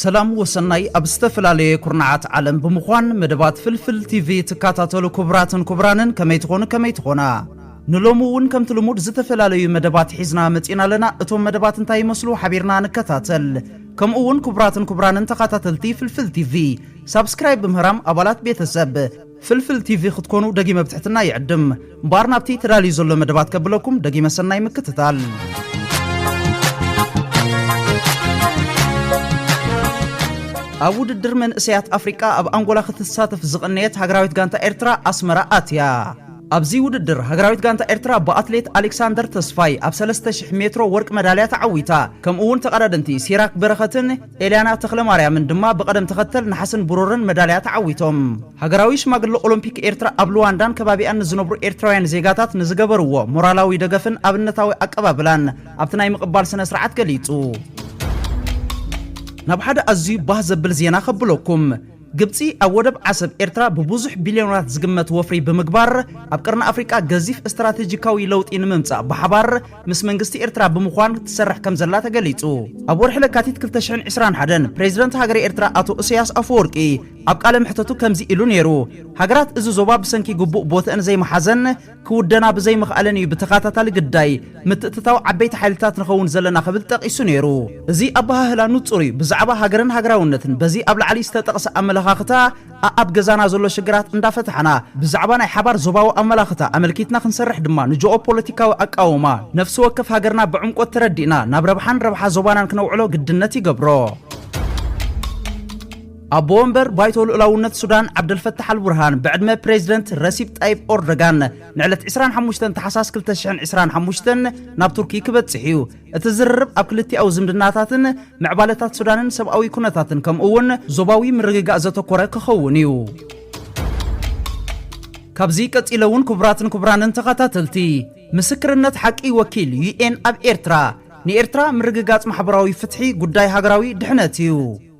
ሰላም ወሰናይ ኣብ ዝተፈላለየ ኩርናዓት ዓለም ብምዃን መደባት ፍልፍል ቲቪ ትካታተሉ ኩቡራትን ኩቡራንን ከመይ ትኾኑ ከመይ ትኾና ንሎሚ እውን ከምቲ ልሙድ ዝተፈላለዩ መደባት ሒዝና መጺና ኣለና እቶም መደባት እንታይ ይመስሉ ሓቢርና ንከታተል ከምኡ እውን ኩቡራትን ኩቡራንን ተኻታተልቲ ፍልፍል ቲቪ ሳብስክራይብ ብምህራም ኣባላት ቤተሰብ ፍልፍል ቲቪ ክትኮኑ ደጊመ ብትሕትና ይዕድም። እምበኣር ናብቲ ተዳልዩ ዘሎ መደባት ከብለኩም ደጊመ ሰናይ ምክትታል። ኣብ ውድድር መንእሰያት ኣፍሪቃ ኣብ ኣንጎላ ክትሳተፍ ዝቐነየት ሃገራዊት ጋንታ ኤርትራ ኣስመራ ኣትያ ኣብዚ ውድድር ሃገራዊት ጋንታ ኤርትራ ብኣትሌት ኣሌክሳንደር ተስፋይ ኣብ 3000 ሜትሮ ወርቂ መዳልያ ተዓዊታ ከምኡ እውን ተቐዳደምቲ ሲራክ በረኸትን ኤልያና ተኽለማርያምን ድማ ብቐደም ተኸተል ነሓስን ብሩርን መዳልያ ተዓዊቶም። ሃገራዊ ሽማግለ ኦሎምፒክ ኤርትራ ኣብ ሉዋንዳን ከባቢኣን ንዝነብሩ ኤርትራውያን ዜጋታት ንዝገበርዎ ሞራላዊ ደገፍን ኣብነታዊ ኣቀባብላን ኣብቲ ናይ ምቕባል ስነ-ስርዓት ገሊጹ። ናብ ሓደ ኣዝዩ ባህ ዘብል ዜና ከብለኩም። ግብጺ ኣብ ወደብ ዓሰብ ኤርትራ ብብዙሕ ቢልዮነራት ዝግመት ወፍሪ ብምግባር ኣብ ቀርኒ ኣፍሪቃ ገዚፍ እስትራተጂካዊ ለውጢ ንምምጻእ ብሓባር ምስ መንግስቲ ኤርትራ ብምዃን ትሰርሕ ከም ዘላ ተገሊጹ። ኣብ ወርሒ ለካቲት 2021 ፕሬዚደንት ሃገረ ኤርትራ ኣቶ እሰያስ ኣፈወርቂ ኣብ ቃለ መሕተቱ ከምዚ ኢሉ ነይሩ፣ ሃገራት እዚ ዞባ ብሰንኪ ግቡእ ቦትእን ዘይመሓዘን ክውደና ብዘይምኽኣለን እዩ ብተኸታታሊ ግዳይ ምትእትታው ዓበይቲ ሓይልታት ንኸውን ዘለና ክብል ጠቒሱ ነይሩ። እዚ ኣበሃህላ ንጹር እዩ፣ ብዛዕባ ሃገርን ሃገራውነትን በዚ ኣብ ላዕሊ ዝተጠቕሰ ኣመለኻኽታ ኣኣብ ገዛና ዘሎ ሽግራት እንዳፈታሕና ብዛዕባ ናይ ሓባር ዞባዊ ኣመላኽታ ኣመልኪትና ክንሰርሕ ድማ ንጆኦ-ፖለቲካዊ ኣቃውማ ነፍሲ ወከፍ ሃገርና ብዕምቆት ተረዲእና ናብ ረብሓን ረብሓ ዞባናን ክነውዕሎ ግድነት ይገብሮ። ኣቦ ወንበር ባይቶ ልኡላውነት ሱዳን ዓብደልፈታሕ ኣልቡርሃን ብዕድመ ፕሬዚደንት ረሲፕ ጣይብ ኦርዶጋን ንዕለት 25 ታሕሳስ 2025 ናብ ቱርኪ ክበጽሕ እዩ። እቲ ዝርርብ ኣብ ክልቲኣዊ ዝምድናታትን ምዕባለታት ሱዳንን ሰብኣዊ ኩነታትን ከምኡ'ውን ዞባዊ ምርግጋእ ዘተኮረ ክኸውን እዩ። ካብዚ ቀጺለ እውን ክቡራትን ክቡራንን ተኸታተልቲ ምስክርነት ሓቂ ወኪል ዩኤን ኣብ ኤርትራ ንኤርትራ ምርግጋጽ ማሕበራዊ ፍትሒ ጉዳይ ሃገራዊ ድሕነት እዩ።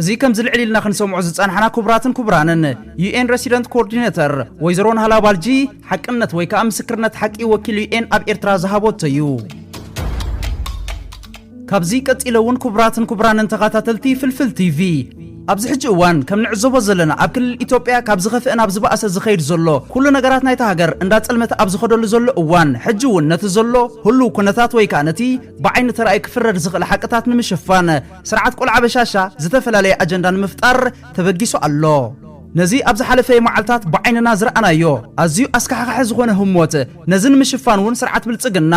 እዚ ከምዚ ልዕል ኢልና ክንሰምዖ ዝጸናሕና ክቡራትን ክቡራንን፣ UN Resident Coordinator ወይዘሮ ናህላ ባልጂ ሓቅነት ወይ ከኣ ምስክርነት ሓቂ ወኪል UN ኣብ ኤርትራ ዝሃቦቶ እዩ። ካብዚ ቀጺለ እውን ክቡራትን ክቡራንን ተኻታተልቲ ፍልፍል ቲቪ፣ ኣብዚ ሕጂ እዋን ከም ንዕዘቦ ዘለና ኣብ ክልል ኢትዮጵያ ካብ ዝኸፍእ ናብ ዝበኣሰ ዝኸይድ ዘሎ ኩሉ ነገራት ናይታ ሃገር እንዳ ጸልመተ ኣብ ዝኸደሉ ዘሎ እዋን ሕጂ እውን ነቲ ዘሎ ህሉው ኩነታት ወይ ከኣ ነቲ ብዓይኒ ተራእዩ ክፍረድ ዝኽእል ሓቅታት ንምሽፋን ስርዓት ቆልዓ በሻሻ ዝተፈላለየ ኣጀንዳ ንምፍጣር ተበጊሱ ኣሎ። ነዚ ኣብ ዝሓለፈ መዓልታት ብዓይንና ዝረኣናዮ ኣዝዩ ኣስካሕኻሒ ዝኾነ ህሞት ነዚ ንምሽፋን እውን ስርዓት ብልፅግና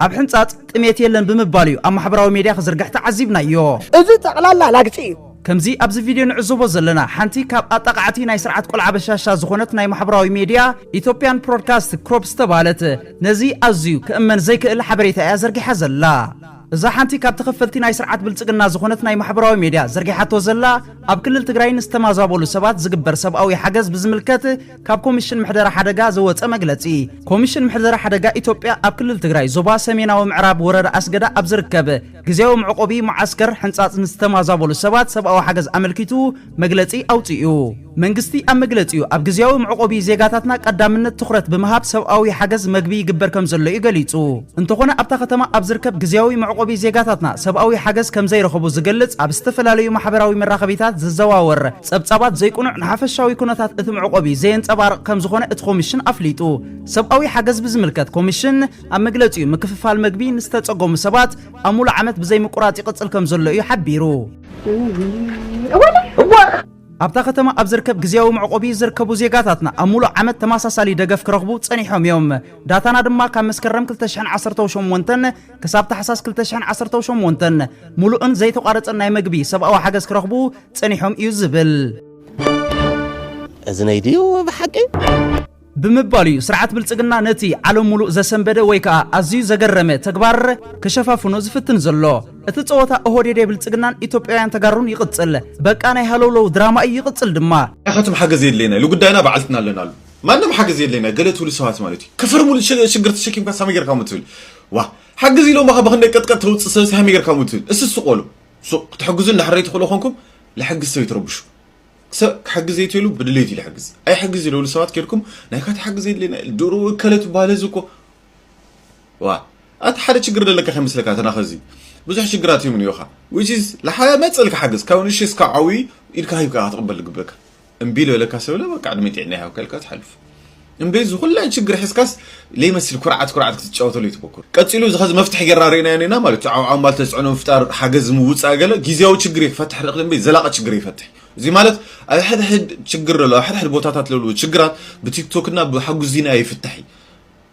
ኣብ ሕንፃፅ ጥሜት የለን ብምባል እዩ ኣብ ማሕበራዊ ሜድያ ክዝርግሕ ተዓዚብናዮ። እዚ ጠቕላላ ላግፂ እዩ። ከምዚ ኣብዚ ቪድዮ ንዕዘቦ ዘለና ሓንቲ ካብ ኣጣቓዕቲ ናይ ስርዓት ቆልዓ በሻሻ ዝኾነት ናይ ማሕበራዊ ሜድያ ኢትዮጵያን ፕሮድካስት ክሮፕ ዝተብሃለት ነዚ ኣዝዩ ክእመን ዘይክእል ሓበሬታ እያ ዘርጊሓ ዘላ። እዛ ሓንቲ ካብ ተኸፈልቲ ናይ ስርዓት ብልጽግና ዝኾነት ናይ ማሕበራዊ ሜድያ ዘርጊሓቶ ዘላ ኣብ ክልል ትግራይ ንዝተማዛበሉ ሰባት ዝግበር ሰብኣዊ ሓገዝ ብዝምልከት ካብ ኮሚሽን ምሕደራ ሓደጋ ዘወጸ መግለጺ ኮሚሽን ምሕደራ ሓደጋ ኢትዮጵያ ኣብ ክልል ትግራይ ዞባ ሰሜናዊ ምዕራብ ወረዳ ኣስገዳ ኣብ ዝርከብ ግዜያዊ መዕቆቢ መዓስከር ሕንጻጽ ንዝተማዛበሉ ሰባት ሰብኣዊ ሓገዝ ኣመልኪቱ መግለጺ ኣውጺኡ። መንግስቲ ኣብ መግለጺኡ፣ ኣብ ግዝያዊ መዕቆቢ ዜጋታትና ቀዳምነት ትኹረት ብምሃብ ሰብኣዊ ሓገዝ መግቢ ይግበር ከምዘሎ'ዩ ገሊጹ። እንተኾነ ኣብታ ከተማ ኣብ ዝርከብ ግዝያዊ መዕቆቢ ዜጋታትና ሰብኣዊ ሓገዝ ከምዘይረኸቡ ዝገልጽ ኣብ ዝተፈላለዩ ማሕበራዊ መራኸቢታት ዝዘዋወር ጸብጻባት ዘይቅኑዕ ንሓፈሻዊ ኩነታት እቲ መዕቆቢ ዘየንጸባርቕ ከምዝኾነ እቲ ኮሚሽን ኣፍሊጡ። ሰብኣዊ ሓገዝ ብዝምልከት ኮሚሽን ኣብ መግለጺኡ ምክፍፋል መግቢ ንዝተጸገሙ ሰባት ኣብ ሙሉእ ዓመት ብዘይምቁራጽ ይቕጽል ከምዘሎ'ዩ ሓቢሩ። ኣብታ ከተማ ኣብ ዝርከብ ግዝያዊ መዕቆቢ ዝርከቡ ዜጋታትና ኣብ ሙሉእ ዓመት ተመሳሳሊ ደገፍ ክረኽቡ ጸኒሖም እዮም። ዳታና ድማ ካብ መስከረም 2018 ክሳብ ታሕሳስ 2018 ሙሉእን ዘይተቋረጸን ናይ መግቢ ሰብኣዊ ሓገዝ ክረኽቡ ጸኒሖም እዩ ዝብል። እዝነይ ድዩ ብሓቂ? ብምባሉ እዩ ስርዓት ብልጽግና ነቲ ዓለም ሙሉእ ዘሰንበደ ወይ ከኣ ኣዝዩ ዘገረመ ተግባር ክሸፋፍኖ ዝፍትን ዘሎ። እቲ ጸወታ ኦሆዴዴ ብልጽግናን ኢትዮጵያውያን ተጋሩን ይቕጽል። በቃ ናይ ሃለውለው ድራማ እዩ ይቕጽል ድማ። ኢኻትም ሓገዝ የድልየና ኢሉ ጉዳይና ባዕልትና ኣለና ኢሉ ማንም ሓገዝ የድልየና ገለ ትብሉ ሰባት ማለት እዩ ክፈርሙሉ ሽግር ተሸኪምካስ ሃመይ ጌርካ እሞ ትብል ዋእ ሓግዝ ኢሎምኻ ብኽንደይ ቀጥቀጥ ተውጽእ ሰብሲ ሃመይ ጌርካ እሞ ትብል እስቲ ስቆሉ ሱቕ ክትሕግዙ እንድሕር ዘይትኽእሉ ኮንኩም ልሕግዝ ሰብ ይትረብሹ ሰብ ክሕግዝ የትሉ ብድሌት ኢሉ ሕግዝ ኣይሕግዝ ዝደብሉ ሰባት ኬድኩም ናይ ካቲ ሓግዝ የድልየና ድሮ እከለ ትበሃል እዚ እኮ ዋ ኣቲ ሓደ ችግር ዘለካ ከይመስለካ ተናኸ እዚ ብዙሕ ሽግራት እዮም እኒኦኻ ዊች ኢዝ ልሓያ መፅእልካ ሓግዝ ካብ ንእሽተይ እስካብ ዓብዪ ኢድካ ሂብካ ክትቕበል ዝግበካ እምቢ ዝበለካ ሰብለ በቃ ዕድመ ጥዕና ይሃብካ ኢልካ ትሓልፍ እምበይ እዚ ኩለን ሽግር ሕዝካስ ለይመስል ኩርዓት ኩርዓት ክትጫወተሉ እዩ ትበኩር ቀጺሉ እዚ ከዚ መፍትሒ ጌርና ርኢናዮ ኔና ማለት እዩ ዓውዓው ማል ተጽዕኖ ምፍጣር ሓገዝ ምውጻእ ገለ ጊዜያዊ ሽግር እዩ ክፈትሕ ልኽል እምበይ ዘላቂ ሽግር ኣይፈትሕ እዚ ማለት ኣብ ሕድሕድ ሽግር ለሎ ኣብ ሕድሕድ ቦታታት ለሎ ሽግራት ብቲክቶክ እና ብሓጉስ ዚና ኣይፍታሕ እዩ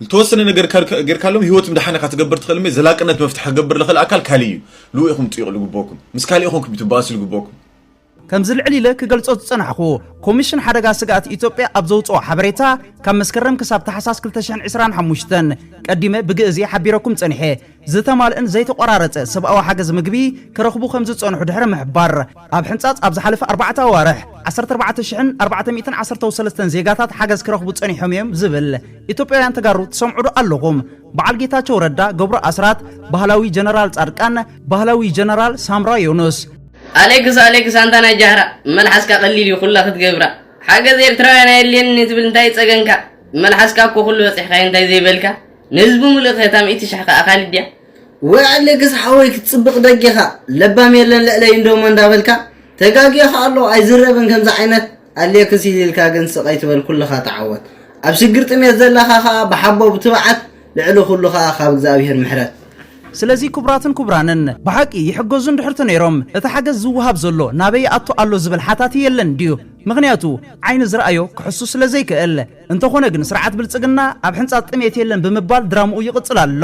ዝተወሰነ ነገር ጌርካሎም ህይወት ምድሓን ኢኻ ትገብር ትኽእል እምበይ ዘላቅነት መፍትሒ ክገብር ልኽል ኣካል ካልእ እዩ ልኡ ኢኹም ጥይቕሉ ግበኩም ምስ ካልእ ኢኹም ክትበኣሱ ልግበኩም ከምዚ ልዕል ኢለ ክገልጾ ዝጸናሕኩ፣ ኮሚሽን ሓደጋ ስግኣት ኢትዮጵያ ኣብ ዘውጽኦ ሓበሬታ ካብ መስከረም ክሳብ ታሕሳስ 2025 ቀዲመ ብግእዝ እየ ሓቢረኩም ጸኒሐ ዝተማልእን ዘይተቖራረጸ ሰብኣዊ ሓገዝ ምግቢ ክረኽቡ ከም ዝጸንሑ ድሕሪ ምሕባር ኣብ ሕንጻጽ ኣብ ዝሓለፈ ኣርባዕተ ኣዋርሕ 14413 ዜጋታት ሓገዝ ክረኽቡ ጸኒሖም እዮም ዝብል ኢትዮጵያውያን ተጋሩ ትሰምዑዶ ኣለኹም በዓል ጌታቸው ረዳ ገብሩ ኣስራት ባህላዊ ጀነራል ጻድቃን ባህላዊ ጀነራል ሳምራ ዮኑስ ኣሌክስ ኣሌክስ ኣንታ ናይ ጃህራ መልሓስካ ቀሊል እዩ ኩላ ክትገብራ ሓገዝ ኤርትራውያን ኣየድልየንን ትብል እንታይ እዩ ጸገንካ መልሓስካ እኮ ኩሉ በጺሕካዮ እንታይ ዘይበልካ ንህዝቡ ምሉእ ክታ ሚእቲ ሽሕ ከኣ ካልድ ድያ ወይ ኣሌክስ ሓወይ ክትጽብቕ ደጊኻ ለባም የለን ልዕለይ እንዶሞ እንዳበልካ ተጋጊኻ ኣሎ ኣይዝረብን ከምዚ ዓይነት ኣሌክስ ኢሊልካ ግን ስቅ ኣይትበል ኩልኻ ተዓወት ኣብ ሽግር ጥሜት ዘለኻ ከኣ ብሓቦ ብትብዓት ልዕሊ ኩሉ ከኣ ካብ እግዝኣብሄር ምሕረት። ስለዚ ክቡራትን ክቡራንን ብሓቂ ይሕገዙ እንድሕር ተነይሮም እቲ ሓገዝ ዝወሃብ ዘሎ ናበይ ይኣቱ ኣሎ ዝብል ሓታቲ የለን ድዩ ምኽንያቱ ዓይኒ ዝረኣዮ ክሕሱ ስለ ዘይክእል። እንተኾነ ግን ስርዓት ብልጽግና ኣብ ሕንጻጽ ጥሜት የለን ብምባል ድራምኡ ይቕጽል ኣሎ።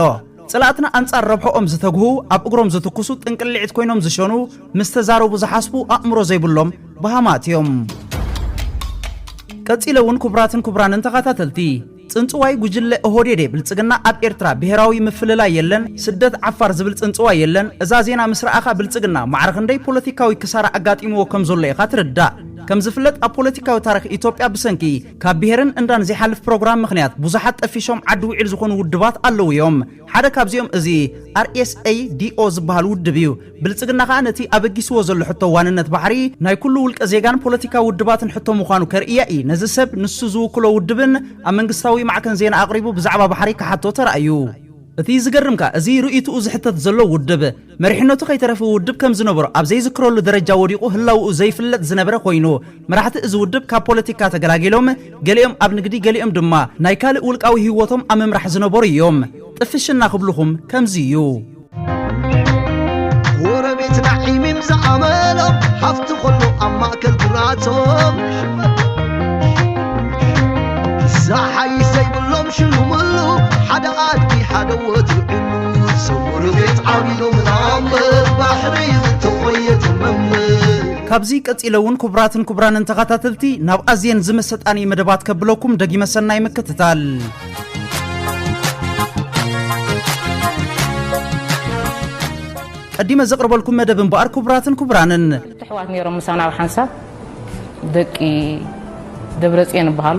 ጽላእትና ኣንጻር ረብሕኦም ዝተግሁ፣ ኣብ እግሮም ዝትኩሱ፣ ጥንቅልዒት ኮይኖም ዝሸኑ፣ ምስ ተዛረቡ ዝሓስቡ፣ ኣእምሮ ዘይብሎም በሃማት እዮም። ቀጺለ እውን ክቡራትን ክቡራንን ተኻታተልቲ፣ ጽንጽዋይ ጉጅለ ኦሆዴዴ ብልጽግና ኣብ ኤርትራ ብሄራዊ ምፍልላይ የለን፣ ስደት ዓፋር ዝብል ጽንጽዋይ የለን፣ እዛ ዜና ምስ ረኣኻ ብልጽግና ማዕረ ክንደይ ፖለቲካዊ ክሳራ ኣጋጢምዎ ከም ዘሎ ኢኻ ትርዳእ። ከም ዝፍለጥ ኣብ ፖለቲካዊ ታሪኽ ኢትዮጵያ ብሰንኪ ካብ ብሄርን እንዳን ዘይሓልፍ ፕሮግራም ምኽንያት ብዙሓት ጠፊሾም ዓዲ ውዒል ዝኾኑ ውድባት ኣለዉ እዮም። ሓደ ካብዚኦም እዚ RSADO ዝበሃል ውድብ እዩ። ብልፅግና ከዓ ነቲ ኣበጊስዎ ዘሎ ሕቶ ዋንነት ባሕሪ ናይ ኩሉ ውልቀ ዜጋን ፖለቲካዊ ውድባትን ሕቶ ምዃኑ ከርእያ እዪ ነዚ ሰብ ንሱ ዝውክሎ ውድብን ኣብ መንግስታዊ ማዕከን ዜና ኣቕሪቡ ብዛዕባ ባሕሪ ክሓቶ ተራእዩ። እቲ ዝገርም ከዓ እዚ ርእይትኡ ዝሕተት ዘሎ ውድብ መሪሕነቱ ከይተረፈ ውድብ ከም ዝነበሮ ኣብ ዘይዝክረሉ ደረጃ ወዲቑ ህላውኡ ዘይፍለጥ ዝነበረ ኮይኑ፣ መራሕቲ እዚ ውድብ ካብ ፖለቲካ ተገላጊሎም ገሊኦም ኣብ ንግዲ ገሊኦም ድማ ናይ ካልእ ውልቃዊ ሂወቶም ኣብ ምምራሕ ዝነበሩ እዮም። ጥፍሽና ክብሉኹም ከምዚ እዩ። ጎረቤትና ዒሚም ዝዓመሎም ሃፍቲ ኾሎ ኣብ ማእከል ግራቶም ዝሓይሽ ዘይብሎም ሽሉምሉ ሓደ ኣድጊ ሓደ ወትሩ ዕሉል ሰው ርቤት ዓቢሉ ምናምር ባሕሪ ዝተቆየ ትምምር ካብዚ ቀጺለ እውን ክቡራትን ክቡራንን ተኸታተልቲ ናብ ኣዝየን ዝመሰጣኒ መደባት ከብለኩም ደጊመ ሰናይ ምክትታል ቀዲመ ዘቕርበልኩም መደብ እምበኣር ክቡራትን ክቡራንን ትሕዋት ነይሮም ምሳና ኣብ ሓንሳብ ደቂ ደብረፅዮን ይበሃሉ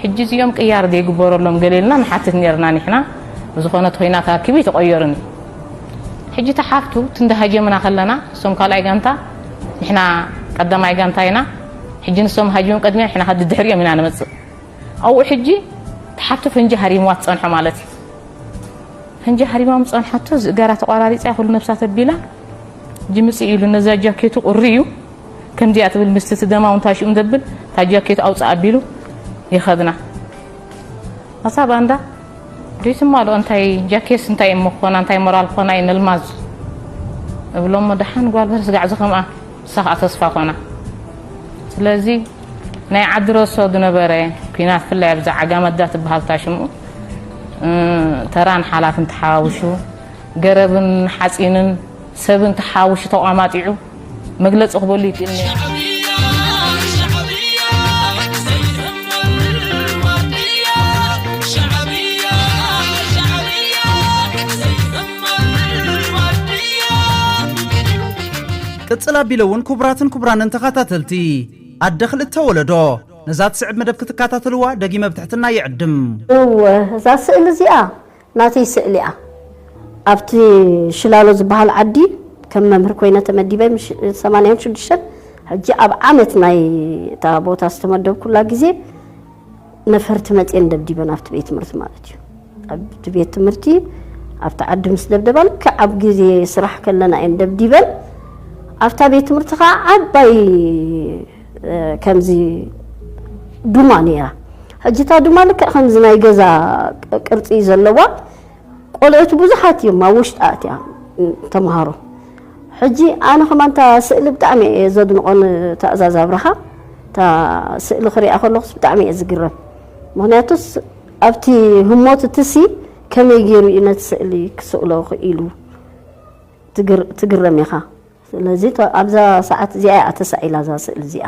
ሕጂ እዚኦም ቅያር ዘይግበረሎም ገሌልና ንሓትት ነርና ንሕና ዝኾነት ኮይናት ኣኪቡ ይተቆየሩን ሕጂ ተሓፍቱ ትንዳሃጀምና ከለና እሶም ካልኣይ ጋንታ ንሕና ቀዳማይ ጋንታ ኢና ሕጂ ንሶም ሃጅም ቅድሚያ ንሕና ከዲ ድሕሪኦም ኢና ንመፅእ ኣብኡ ሕጂ ተሓፍቱ ፍንጂ ሃሪምዋ ትፀንሖ ማለት እዩ ፍንጂ ሃሪማም ፀንሓቶ ዝእገራ ተቋራሪፃ ኩሉ ነብሳ ተቢላ ጅምጽእ ኢሉ ነዛ ጃኬቱ ቁሪ እዩ ከምዚኣ ትብል ምስቲ እቲ ደማውን ታሽኡን ዘብል እታ ጃኬቱ ኣውፅእ ኣቢሉ ይኸድና ኣሳ ባንዳ ዶይትማልኦ እንታይ ጃኬስ እንታይ እሞ ኮና እንታይ ሞራል ኮና እዩ ነልማዝ እብሎሞ ደሓን ጓል በርስ ጋዕ ዝኸምኣ እሳ ከዓ ተስፋ ኮና ስለዚ ናይ ዓዲ ረሶ ዝነበረ ኩናት ፍላይ ኣብዛ ዓጋመዳ ትበሃልታ ሽሙ ተራን ሓላፍን ተሓዋውሹ ገረብን ሓጺንን ሰብን ተሓዋዊሱ ተቋማጢዑ መግለጺ ክበሉ ይክእልኒ። ቅጽል ኣቢለ እውን ክቡራትን ክቡራንን ተኸታተልቲ ኣደ ክልተ ወለዶ ነዛ ትስዕብ መደብ ክትከታተልዋ ደጊመ ብትሕትና ይዕድም። እወ እዛ ስእሊ እዚኣ ናተይ ስእሊ'ያ። ኣብቲ ሽላሎ ዝበሃል ዓዲ ከም መምህር ኮይነ ተመዲበ ምሽ ሰማንያን ሽዱሽተን ሕጂ ኣብ ዓመት ናይ እታ ቦታ ዝተመደብኩላ ግዜ ነፈርቲ መጽየን ደብዲበን ኣብቲ ቤት ትምህርቲ ማለት እዩ ኣብቲ ቤት ትምህርቲ ኣብቲ ዓዲ ምስ ደብደባ ልክዕ ኣብ ግዜ ስራሕ ከለና እየን ደብዲበን ኣብታ ቤት ትምህርቲ ከዓ ዓባይ ከምዚ ዱማ ነይራ ሕጂ እታ ዱማ ልክዕ ከምዚ ናይ ገዛ ቅርጺ ዘለዋ ቆልዑት ብዙሓት እዮም ኣብ ውሽጢ ኣእትያ ተምሃሮ ሕጂ ኣነ ከማን እታ ስእሊ ብጣዕሚ እየ ዘድንቖ ንትእዛዝ ኣብርሃ እታ ስእሊ ክሪኣ ከለኹስ ብጣዕሚ እየ ዝግረም ምክንያቱስ ኣብቲ ህሞት እትሲ ከመይ ገይሩ እዩ ነቲ ስእሊ ክስእሎ ክኢሉ ትግረም ኢኻ ስለዚ ኣብዛ ሰዓት እዚኣ እያ ተሳኢላ እዛ ስእሊ እዚኣ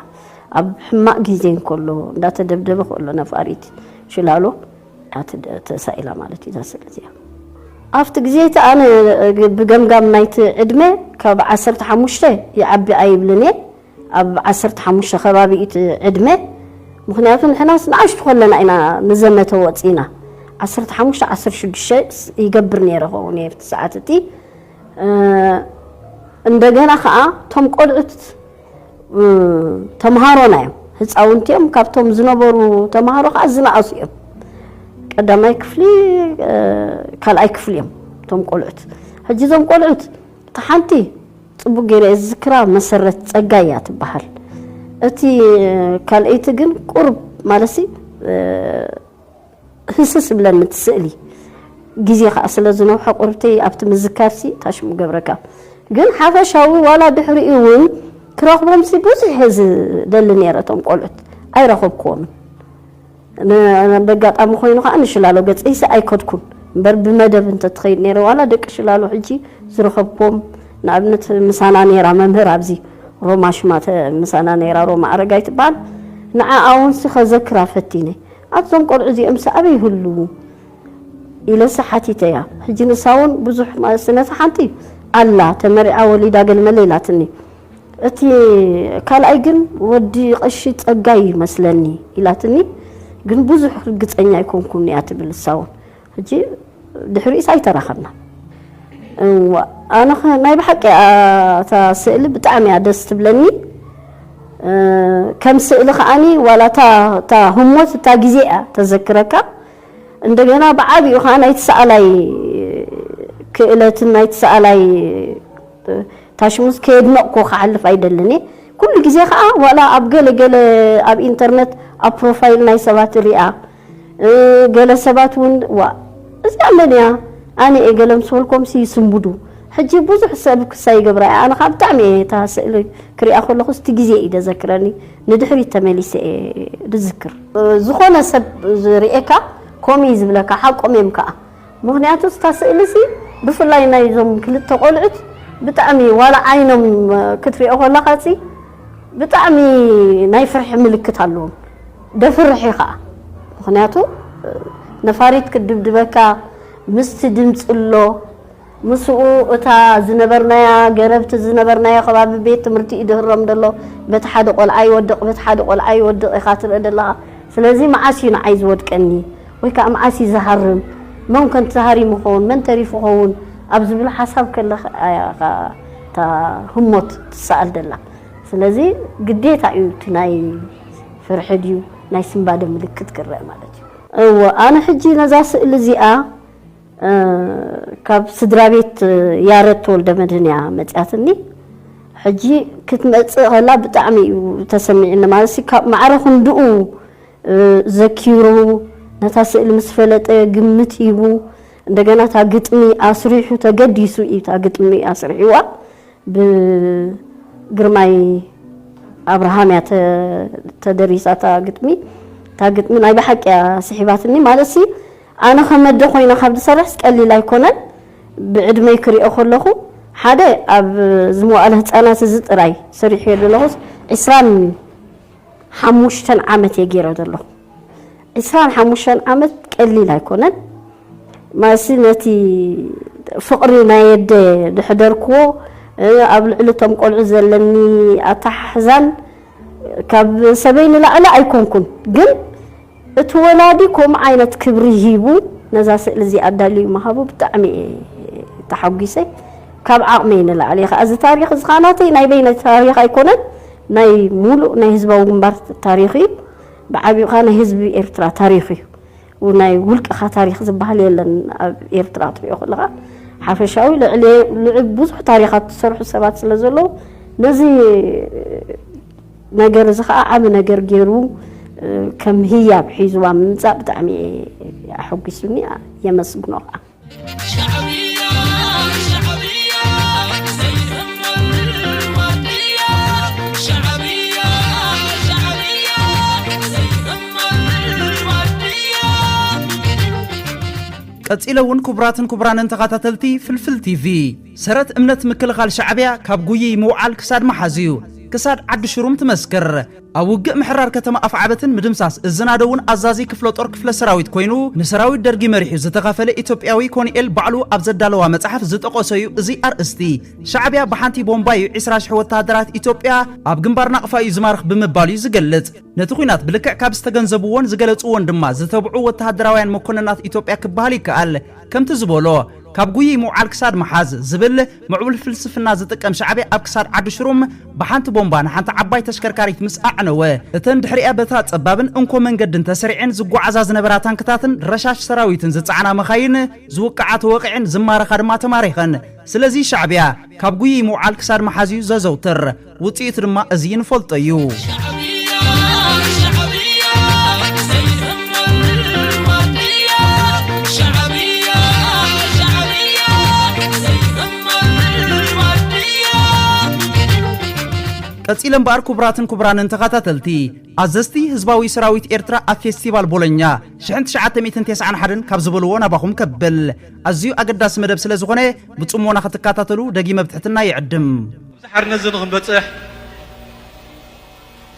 ኣብ ሕማቅ ግዜ እንከሎ እንዳተደብደበ ከሎ ነፋሪት ሽላሎ ተሳኢላ ማለት እዩ እዛ ስእሊ እዚኣ ኣብቲ ግዜ እቲ ኣነ ብገምጋም ናይቲ ዕድመ ካብ ዓሰርተ ሓሙሽተ ይዓቢ ኣይብልን እየ ኣብ ዓሰርተ ሓሙሽተ ከባቢ እዩ እቲ ዕድመ ምክንያቱ ንሕናስ ንኣሽቱ ከለና ኢና ንዘመተ ወፂና ዓሰርተ ሓሙሽተ ዓሰርተ ሽዱሽተ ይገብር ነይረ ከውን እየ እቲ ሰዓት እቲ እንደገና ከኣ እቶም ቆልዑት ተምሃሮና እዮም ህፃውንቲ እዮም ካብቶም ዝነበሩ ተምሃሮ ከዓ ዝነኣሱ እዮም ቀዳማይ ክፍሊ ካልኣይ ክፍሊ እዮም እቶም ቆልዑት ሕጂ እዞም ቆልዑት እቲ ሓንቲ ፅቡቅ ገይረ እየ ዝዝክራ መሰረት ፀጋ እያ ትበሃል እቲ ካልኣይቲ ግን ቁርብ ማለት ህስስ እብለኒ እቲ ስእሊ ግዜ ከኣ ስለ ዝነውሐ ቁርብተይ ኣብቲ ምዝካርሲ እታ ሽም ክገብረካ ግን ሓፈሻዊ ዋላ ድሕሪኡ እውን ክረኽቦምሲ ብዙሕ እየ ዝደሊ ነይረ እቶም ቆልዑት ኣይረኸብክዎምን በጋጣሚ ኮይኑ ከዓ ንሽላሎ ገፀይሲ ኣይከድኩን እምበር ብመደብ እንተትኸይድ ነይረ ዋላ ደቂ ሽላሎ ሕጂ ዝረኸብክዎም ንኣብነት ምሳና ነይራ መምህር ኣብዚ ሮማ ሽማ ምሳና ነይራ ሮማ ኣረጋይ ትበሃል ንዓኣ እውን ከዘክራ ፈቲነ ኣዞም ቆልዑ እዚኦምስ ኣበይ ይህልዉ ኢለሰ ሓቲተያ ሕጂ ንሳውን ብዙሕ ማለትነታ ሓንቲ ኣላ ተመሪዓ ወሊዳ ገልመለ ኢላትኒ እቲ ካልኣይ ግን ወዲ ቀሺ ጸጋይ ይመስለኒ ኢላትኒ ግን ብዙሕ ርግጸኛ ኣይኮንኩን እያ ትብል እሳውን ሕጂ ድሕሪኡስ ኣይተራኸብናን። እዋእ ኣነኸ ናይ ብሓቂ እታ ስእሊ ብጣዕሚ እያ ደስ ትብለኒ ከም ስእሊ ከዓኒ ዋላ እታ ህሞት እታ ግዜ እያ ተዘክረካ እንደገና ብዓቢኡ ከዓ ናይቲ ሰኣላይ ክእለትን ናይቲ ሰኣላይ ታሽሙስ ከየድነቕኩ ክሓልፍ ኣይደልን እየ ኩሉ ግዜ ከዓ ዋላ ኣብ ገለ ገለ ኣብ ኢንተርነት ኣብ ፕሮፋይል ናይ ሰባት ሪኣ ገለ ሰባት እውን ዋእ እዚኣ መን እያ ኣነ እየ ገለ ምስ በልኮምሲ ይስንብዱ ሕጂ ብዙሕ ሰብ ክሳ ይገብራ እያ ኣነ ከዓ ብጣዕሚ እየ እታ ስእሊ ክሪኣ ከለኩ እቲ ግዜ እዩ ደዘክረኒ ንድሕሪት ተመሊሰ እየ ድዝክር ዝኮነ ሰብ ዝሪኤካ ከምኡ እዩ ዝብለካ ሓቆም እዮም ከዓ ምክንያቱ እታ ስእሊሲ ብፍላይ ናይ እዞም ክልተ ቆልዑት ብጣዕሚ ዋላ ዓይኖም ክትሪኦ ከለካ ብጣዕሚ ናይ ፍርሒ ምልክት ኣለዎም ደፍርሕ እዩ ከኣ ምኽንያቱ ነፋሪት ክትድብድበካ ምስቲ ድምጺ ኣሎ ምስኡ እታ ዝነበርናያ ገረብ እቲ ዝነበርናዮ ከባቢ ቤት ትምህርቲ እዩ ድህረም ደሎ በቲ ሓደ ቆልዓ ይወድቕ በቲ ሓደ ቆልዓ ይወድቕ ኢኻ ትርኢ ደለኻ ስለዚ መዓስ እዩ ንዓይ ዝወድቀኒ ወይ ከኣ መዓስ እዩ ዝሃርም መን ከ ተሃሪሙ ይኸውን መን ተሪፉ ይኸውን ኣብ ዝብል ሓሳብ ከለኻ እያ እታ ህሞት ትሰኣል ደላ ስለዚ ግዴታ እዩ እቲ ናይ ፍርሒ ድዩ ናይ ስንባደ ምልክት ክረኣ ማለት እዩ። እወ ኣነ ሕጂ ነዛ ስእሊ እዚኣ ካብ ስድራቤት ያረድ ተወልደመድህን እያ መጺኣትኒ። ሕጂ ክትመጽእ ከላ ብጣዕሚ እዩ ተሰሚዕኒ ማለት ካብ ማዕረ ክንድኡ ዘኪሩ ነታ ስእሊ ምስ ፈለጠ ግምት ሂቡ እንደገና እታ ግጥሚ ኣስሪሑ ተገዲሱ እዩ እታ ግጥሚ ኣስሪሕዋ ብግርማይ ኣብርሃም እያ ተደሪሳ እታ ግጥሚ እታ ግጥሚ ናይ ብሓቂ እያ ስሒባትኒ ማለትሲ ኣነ ከመደ ኮይነ ካብ ዝሰርሕስ ቀሊል ኣይኮነን ብዕድመይ ክሪኦ ከለኹ ሓደ ኣብ ዝመዋእለ ህፃናት እዚ ጥራይ ሰሪሑ ዘለኹስ ዕስራን ሓሙሽተ ዓመት እየ ገይረ ዘለኹ። ዕስራን ሓሙሽተን ዓመት ቀሊል ኣይኮነን። ማለትሲ ነቲ ፍቕሪ ናይ ኣደ ዘሕደርክዎ ኣብ ልዕሊ እቶም ቆልዑ ዘለኒ ኣተሓሕዛን ካብ ሰበይ ንላዕሊ ኣይኮንኩን ግን እቲ ወላዲ ከምኡ ዓይነት ክብሪ ሂቡ ነዛ ስእሊ እዚኣ ኣዳልዩ ምሃቡ ብጣዕሚ እየ ተሓጒሰ። ካብ ዓቕመይ ንላዕሊ እየ ከኣ እዚ ታሪኽ እዚ ከኣ ናተይ ናይ በይነይ ታሪኽ ኣይኮነን ናይ ሙሉእ ናይ ህዝባዊ ግንባር ታሪኽ እዩ። ብዓቢኡ ከኣ ናይ ህዝቢ ኤርትራ ታሪኽ እዩ። ናይ ውልቅኻ ታሪኽ ዝበሃል የለን ኣብ ኤርትራ ክትሪኦ ከለኻ ሓፈሻዊ ልዕሊ ብዙሕ ታሪኻት ዝሰርሑ ሰባት ስለ ዘለዉ ነዚ ነገር እዚ ከኣ ዓቢ ነገር ጌሩ ከም ህያብ ሒዝዋ ምምጻእ ብጣዕሚ ኣሐጒሱኒ የመስግኖ ከኣ ቀጺለ እውን ክቡራትን ክቡራንን ተኻታተልቲ ፍልፍል ቲቪ ሰረት እምነት ምክልኻል ሻዕቢያ ካብ ጉይይ ምውዓል ክሳድ ምሓዝ እዩ። ክሳድ ዓዲ ሽሩም ትመስክር። ኣብ ውግእ ምሕራር ከተማ ኣፍዓበትን ምድምሳስ እዚ ናደውን ኣዛዚ ክፍለ ጦር ክፍለ ሰራዊት ኮይኑ ንሰራዊት ደርጊ መሪሑ ዝተኻፈለ ኢትዮጵያዊ ኮንኤል ባዕሉ ኣብ ዘዳለዋ መፅሓፍ ዝጠቆሶ እዩ እዚ ኣርእስቲ። ሻዕቢያ ብሓንቲ ቦምባ እዩ ዕስራ ሽሕ ወተሃደራት ኢትዮጵያ ኣብ ግንባር ናቕፋ እዩ ዝማርኽ ብምባል እዩ ዝገልፅ። ነቲ ኹናት ብልክዕ ካብ ዝተገንዘብዎን ዝገለፅዎን ድማ ዝተብዑ ወተሃደራውያን መኮነናት ኢትዮጵያ ክበሃል ይከኣል። ከምቲ ዝበሎ ካብ ጉይይ ምውዓል ክሳድ ምሓዝ ዝብል ምዕቡል ፍልስፍና ዝጥቀም ሻዕብያ ኣብ ክሳድ ዓዲ ሽሩም ብሓንቲ ቦምባ ንሓንቲ ዓባይ ተሽከርካሪት ምስ ኣዕነወ እተን ድሕሪኣ በታ ጸባብን እንኮ መንገድን ተሰሪዔን ዝጓዓዛ ዝነበራ ታንክታትን ረሻሽ ሰራዊትን ዝጸዓና መኻይን ዝውቅዓ ተወቒዐን ዝማረኻ ድማ ተማሪኸን። ስለዚ ሻዕብያ ካብ ጉይይ ምውዓል ክሳድ ምሓዝ እዩ ዘዘውትር። ውጽኢቱ ድማ እዚ ንፈልጦ እዩ። ቀጺለ እምበኣር ክቡራትን ክቡራንን ተኸታተልቲ ኣዘዝቲ ህዝባዊ ሰራዊት ኤርትራ ኣብ ፌስቲቫል ቦሎኛ 1991 ካብ ዝበልዎ ናባኹም ከብል ኣዝዩ ኣገዳሲ መደብ ስለ ዝኾነ ብጽሞና ክትከታተሉ ደጊመ ብትሕትና ይዕድም ኣብዚ ሓርነት እዚ ንኽንበጽሕ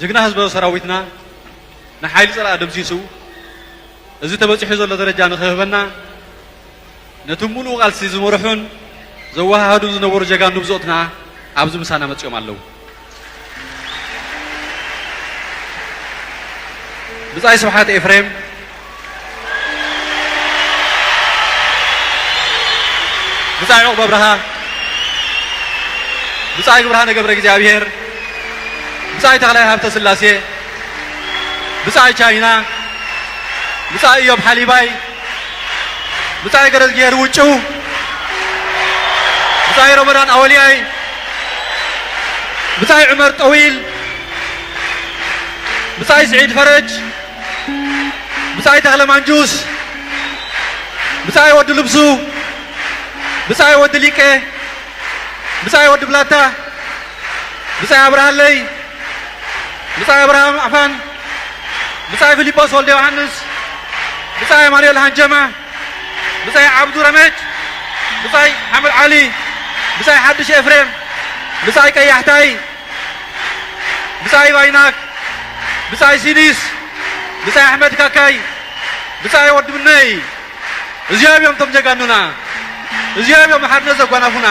ጅግና ህዝበ ሰራዊትና ንሓይሊ ጸላኢ ደምሲሱ እዚ ተበጺሑ ዘሎ ደረጃ ንኽህበና ነቲ ሙሉእ ቃልሲ ዝመርሑን ዘወሃሃዱን ዝነበሩ ጀጋኑ ብጾትና ኣብዚ ምሳና መጺኦም ኣለዉ። ብጻይ ስብሓት ኤፍሬም ብጻይ ዑቕበ ብርሃን ብጻይ ብርሃነ ገብረ እግዚኣብሔር ብጻይ ተኽላይ ሃብተ ስላሴ ብጻይ ቻይና ብጻይ እዮብ ሓሊባይ ብጻይ ገረዝጊሄር ውጩ ብጻይ ረመዳን ኣወልያይ ብጻይ ዑመር ጠዊል ብጻይ ስዒድ ፈረጅ ብጻይ ተኽለ ማንጁስ፣ ብጻይ ወዲ ልብሱ፣ ብጻይ ወዲ ሊቀ፣ ብጻይ ወዲ ብላታ፣ ብጻይ ኣብርሃለይ፣ ብጻይ ኣብርሃም ኣፋን፣ ብጻይ ፊሊጶስ ወልደ ዮሃንስ፣ ብጻይ ኣማኑኤል ሃንጀማ፣ ብጻይ ዓብዱ ረመድ፣ ብጻይ ሓምድ ዓሊ፣ ብጻይ ሓድሽ ኤፍሬም፣ ብጻይ ቀያሕታይ ብጻይ ባይናክ ብጻይ ሲዲስ ብጻይ ኣሕመድ ካካይ ብጻይ ወዲ ምነይ እዚኦም እዮም እቶም ጀጋኑና እዚኦም እዮም ሓርነት ዘጓናፉና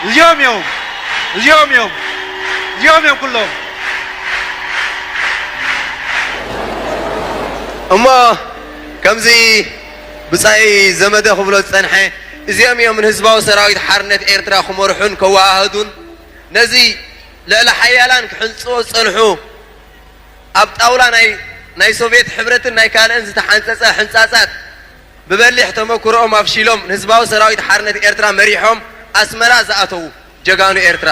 እዚኦም እዮም እዚኦም እዮም እዚኦም እዮም ኩሎም እሞ ከምዚ ብጻይ ዘመደ ክብሎ ዝጸንሐ እዚኦም እዮም ንህዝባዊ ሰራዊት ሓርነት ኤርትራ ክመርሑን ከወሃህዱን ነዚ ልዕለ ሓያላን ክሕንጽጹዎ ዝጸንሑ ኣብ ጣውላ ናይ ናይ ሶቭየት ሕብረትን ናይ ካልእን ዝተሓንጸጸ ሕንጻጻት ብበሊሕ ተመኩሮኦም ኣፍሺሎም ንህዝባዊ ሰራዊት ሓርነት ኤርትራ መሪሖም ኣስመራ ዝኣተዉ ጀጋኑ ኤርትራ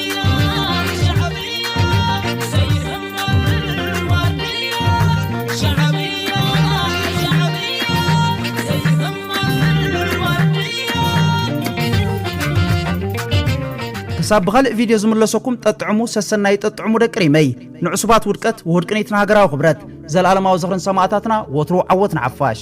ክሳብ ብኻልእ ቪድዮ ዝምለሰኩም ጠጥዕሙ ሰሰናዩ ጠጥዕሙ ደቂ ሪመይ ንዕሱባት ውድቀት ወድቅኒት ንሃገራዊ ክብረት ዘለኣለማዊ ዝኽርን ሰማእታትና ወትሩ ዓወት ንሓፋሽ